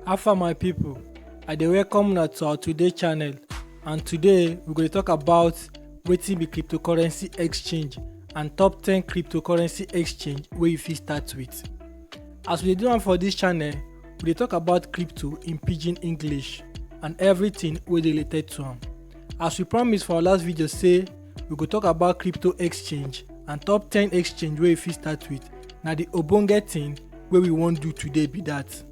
Alpha my people, I dey welcome una to our today channel and today we go dey talk about wetin be cryptocurrency exchange and top 10 cryptocurrency exchange wey you fit start with. As we dey do am for this channel, we dey talk about crypto in pidgin English and everything wey dey related to am. As we promise for our last video say we go talk about crypto exchange and top 10 exchange wey you fit start with na the ogbonge thing wey we wan do today be that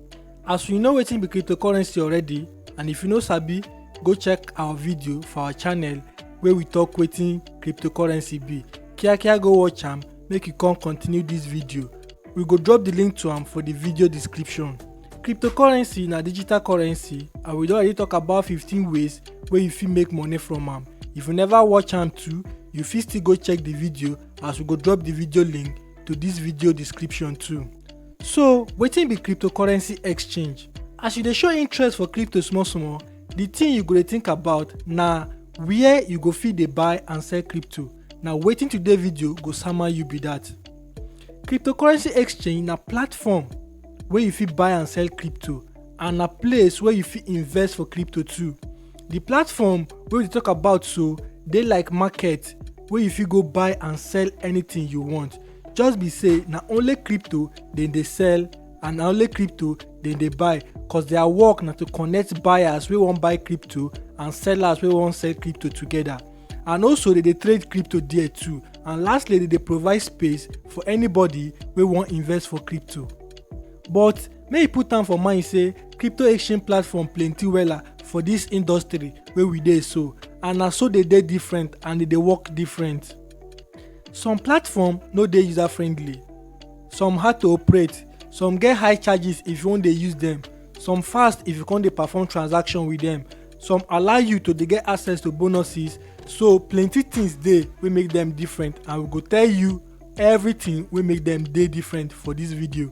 as you know wetin be cryptocurrency already and if you no sabi go check our video for our channel wey we talk wetin cryptocurrency be kiakia go watch am make you come continue this video we go drop the link to am for the video description cryptocurrency na digital currency and we don already talk about 15 ways wey you fit make money from am if you never watch am too you fit still go check the video as we go drop the video link to this video description too so wetin be cryptocurrency exchange as you dey show interest for crypto small small the thing you go dey think about na where you go fit dey buy and sell crypto na wetin today video go sama you be that. Cryptocurrency exchange na platform wey you fit buy and sell crypto and na place wey you fit invest for crypto too. The platform wey we dey talk about so dey like market wey you fit go buy and sell anything you want just be say na only crypto dem dey sell and na only crypto dem dey buy cause their work na to connect buyers wey wan buy crypto and sellers wey wan sell crypto together. and also they dey trade crypto there too and lastly they dey provide space for anybody wey wan invest for crypto but make you put am for mind say crypto exchange platform plenty wella for this industry wey we dey so and na so dey dey different and dey dey work different some platform no dey user friendly some hard to operate some get high charges if you wan dey use them some fast if you come dey perform transaction with them some allow you to dey get access to bonuses so plenty things dey wey make them different and we go tell you everything wey make them dey different for this video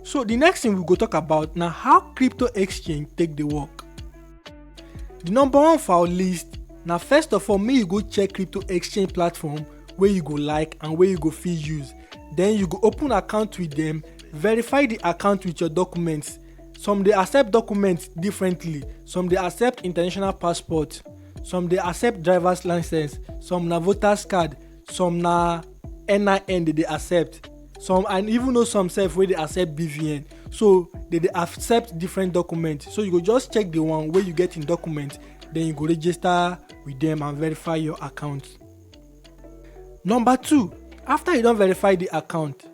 so the next thing we go talk about na how crypto exchange take dey work the number one for our list na first of all make you go check crypto exchange platform wey you go like and wey you go fit use then you go open account with them verify the account with your documents some dey accept documents differently some dey accept international passport some dey accept drivers license some na voters card some na nin dem dey accept some and even know some sef wey dey accept bvn so they dey accept different document so you go just check the one wey you get in document then you go register with them and verify your account number two after you don verify the account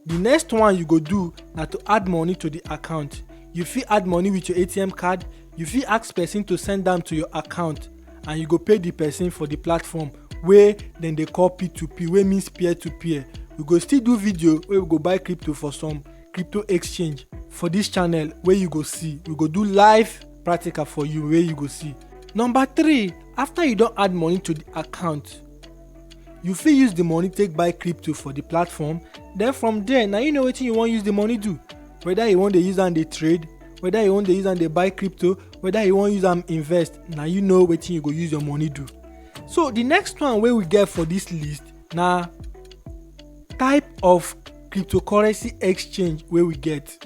the next one you go do na to add money to the account you fit add money with your atm card you fit ask person to send am to your account and you go pay the person for the platform wey dem dey call p2p wey means peer to peer we go still do video wey we go buy crypto for some crypto exchange for this channel wey you go see we go do live practical for you wey you go see number three after you don add money to the account you fit use the money take buy crypto for the platform then from there na you know wetin you wan use the money do whether you wan dey use am dey trade whether you wan dey use am dey buy crypto whether you wan use am invest na you know wetin you go use your money do so the next one wey we get for this list na type of cryptocurrency exchange wey we get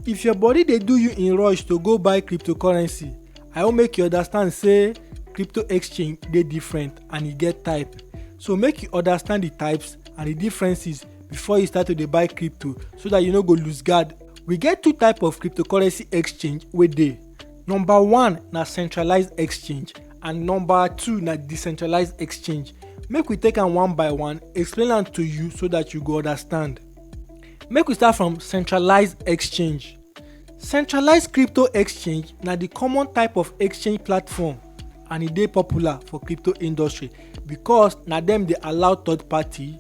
if your body dey do you in rush to go buy cryptocurrency i wan make you understand say crypto exchange dey different and e get type so make you understand the types and the differences before you start to dey buy crypto so that you no go lose guard we get two type of cryptocurrency exchange wey dey number one na centralized exchange and number two na decentralized exchange make we take am one by one explain am to you so that you go understand make we start from centralized exchange Centralized crypto exchange na di common type of exchange platform and e dey popular for crypto industry because na dem dey allow third party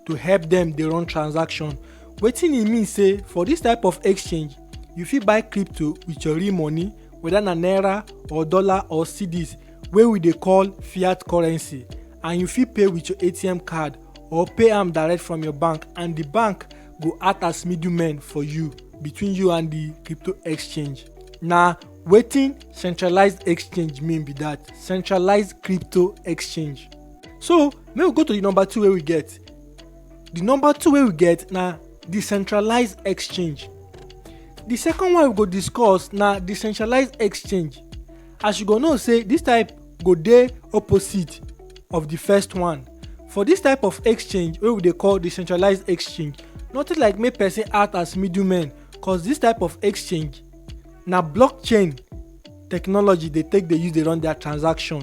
to help dem dey run transaction. Wetin e mean say for dis type of exchange, you fit buy crypto with your real money whether na naira or dollar or cedis wey we dey call fiat currency and you fit pay with your ATM card or pay am direct from your bank and di bank go act as middlemen for you between you and the crypto exchange na wetin centralized exchange mean be that centralized crypto exchange so make we go to the number two wey we get the number two wey we get na decentralized exchange the second one we go discuss na decentralized exchange as you go know say this type go dey opposite of the first one for this type of exchange wey we dey call decentralized exchange nothing like make person act as middleman cause this type of exchange na blockchain technology dey take dey use dey run their transaction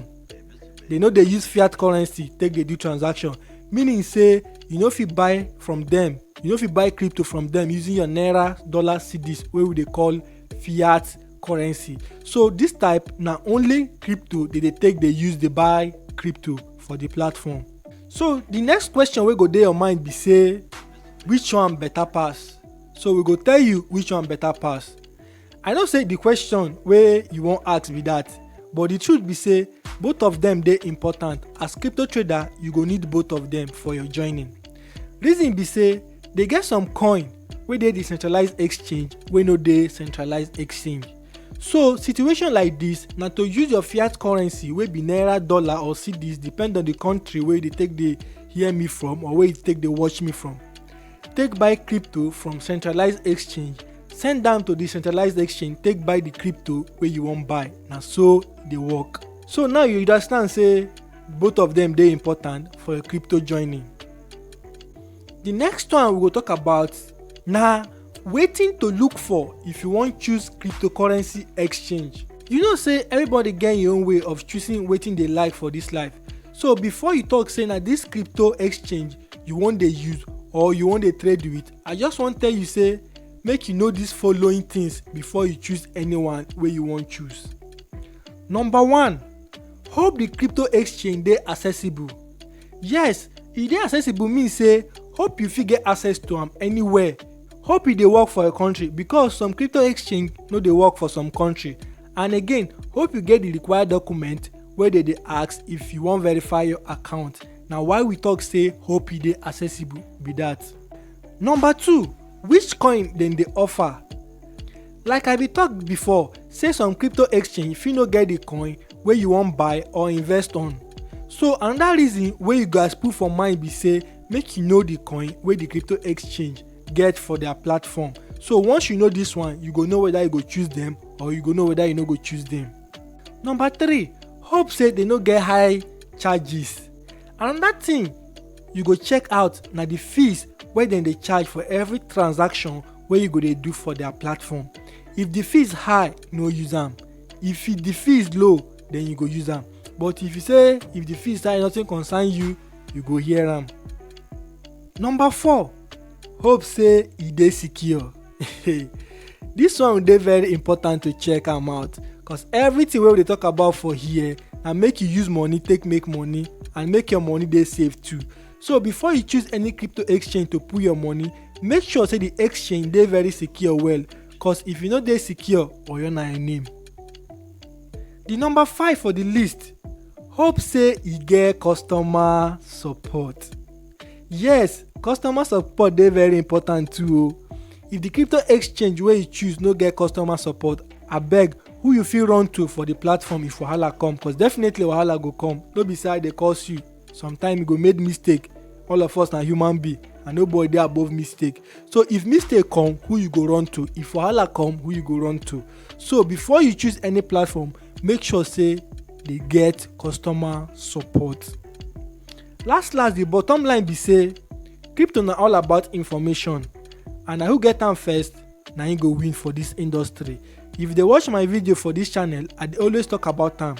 they no dey use fiat currency take dey do transaction meaning say you no fit buy from them you no fit buy crypto from them using your naira dollar cedis wey we dey call fiat currency so this type na only crypto they dey take dey use dey buy crypto for the platform so the next question wey go dey your mind be say which one better pass so we go tell you which one better pass i know say the question wey you wan ask be that but the truth be say both of them dey important as crypto trader you go need both of them for your joining reason be say dey get some coin wey dey decentralized exchange wey no dey centralized exchange so situation like dis na to use your fiat currency wey be naira dollar or cedis depend on di country wey you dey take dey hear me from or wey you take dey watch me from take buy crypto from centralized exchange send am to decentralized exchange take buy di crypto wey you wan buy na so e dey work so now you understand say both of dem dey important for your crypto joining The next one we go talk about na wetin to look for if you wan choose cryptocurrency exchange. You know say everybody get im own way of choosing wetin dey like for this life. So before you talk say na this crypto exchange you wan dey use or you wan dey trade with, I just wan tell you say make you know these following things before you choose anyone wey you wan choose. Number one, hope the crypto exchange dey accessible. Yes, e dey accessible mean say hope you fit get access to am anywhere. Hope e dey work for your country because some crypto exchange no dey work for some country. And again, hope you get the required document wey dey dey ask if you wan verify your account. Na why we talk say hope e dey accessible be that. Number two, which coin dem dey offer? Like I be talk before, say some crypto exchange fit no get the coin wey you wan buy or invest on. So another reason wey you guys put for mind be say make you know the coin wey the crypto exchange get for their platform. So once you know this one, you go know whether you go choose them or you go know whether you no go choose them. Number three, hope say they no get high charges. Another thing you go check out na the fees wey dem dey charge for every transaction wey you go dey do for their platform if the fees high no use am if the fees low then you go use am but if you say if the fees high nothing concern you you go hear am. number four hope say e dey secure this one dey very important to check am out cause everything wey we dey talk about for here na make you use money take make money and make your money dey safe too So before you choose any crypto exchange to put your money, make sure say the exchange dey very secure well cause if you no dey secure, oyo na your name. The number five for the list, hope say e get customer support. Yes, customer support dey very important too o. If the crypto exchange wey you choose no get customer support, abeg who you fit run to for the platform if wahala come cause definitely wahala go come, no be say I dey curse you. sometimes you go make mistake all of us na human being and nobody dey above mistake so if mistake come who you go run to if wahala come who you go run to so before you choose any platform make sure say dey get customer support last last the bottom line be say crypto na all about information and na who get am first na him go win for this industry if you dey watch my video for this channel i dey always talk about am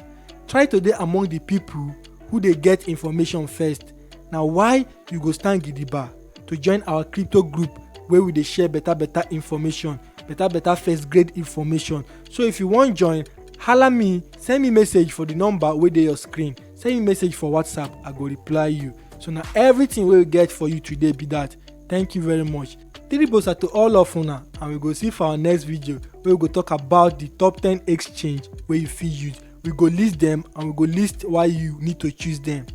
try to dey among the people who dey get information first na why you go stand gidigba to join our crypto group wey we dey share better better information better better first grade information so if you wan join hala me send me message for the number wey dey your screen send me message for whatsapp i go reply you so na everything wey we get for you today be that thank you very much three bosa to all of una and we go see for our next video wey we go talk about the top ten exchange wey you fit use we go list them and we go list why you need to choose them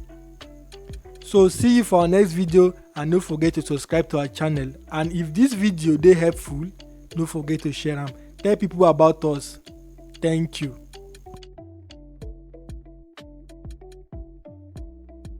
so see you for our next video and no forget to subscribe to our channel and if this video dey helpful no forget to share am tell people about us thank you